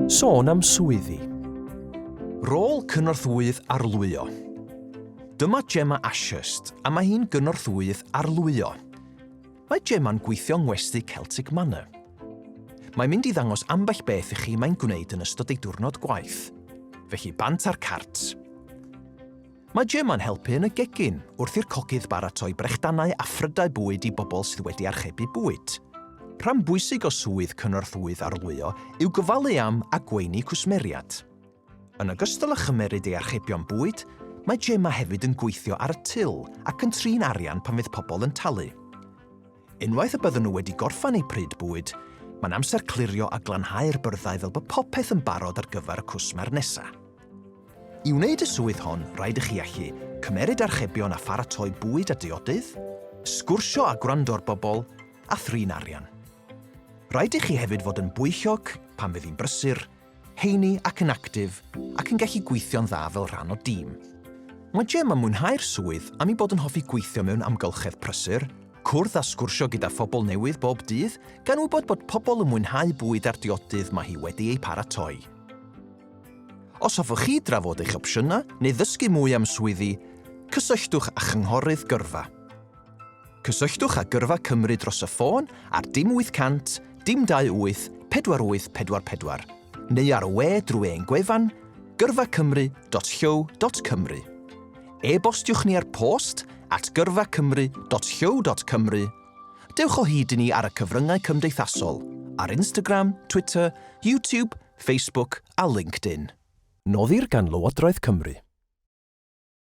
Sôn am swyddi. Rôl Cynorthwyydd Arlwyo Dyma Gemma Ashurst a mae hi'n Gynorthwyydd Arlwyo. Mae Gemma'n gweithio yng Ngwesty Celtic Manor. Mae'n mynd i ddangos ambell beth i chi mae'n gwneud yn ystod ei diwrnod gwaith. Felly bant a'r cards! Mae Gemma'n helpu yn y gegin wrth i'r cogydd baratoi brechdanau a phrydau bwyd i bobl sydd wedi archebu bwyd. Rhan bwysig o swydd cynorthwyydd arlwyo yw gofalu am a gweini cwsmeriad. Yn ogystal â chymeryd ei archebion bwyd, mae Gemma hefyd yn gweithio ar y til ac yn trin arian pan fydd pobl yn talu. Unwaith y bydden nhw wedi gorffan eu pryd bwyd, mae'n amser clirio a glanhau'r byrddau fel bod popeth yn barod ar gyfer y cwsmer nesaf. I wneud y swydd hon, rhaid i chi allu cymeryd archebion a pharatoi bwyd a diodydd, sgwrsio a gwrando'r bobl, a thrin arian. Rhaid i chi hefyd fod yn bwyllog pan fydd hi'n brysur, heini ac yn actif ac yn gallu gweithio'n dda fel rhan o dîm. Mae Jem yn mwynhau'r swydd am ei bod yn hoffi gweithio mewn amgylchedd prysur, cwrdd a sgwrsio gyda phobl newydd bob dydd, gan wybod bod pobl yn mwynhau bwyd a'r diodydd mae hi wedi eu paratoi. Os hoffwch chi drafod eich opsiynau neu ddysgu mwy am swyddi, cysylltwch â Chynghorydd Gyrfa. Cysylltwch â Gyrfa Cymru dros y ffôn ar dim 800 dim 28 4844 neu ar y we drwy ein gwefan gyrfacymru.llyw.cymru. E-bostiwch ni ar post at gyrfacymru.llyw.cymru. Dewch o hyd i ni ar y cyfryngau cymdeithasol, ar Instagram, Twitter, YouTube, Facebook a LinkedIn. Noddir gan Lywodraeth Cymru.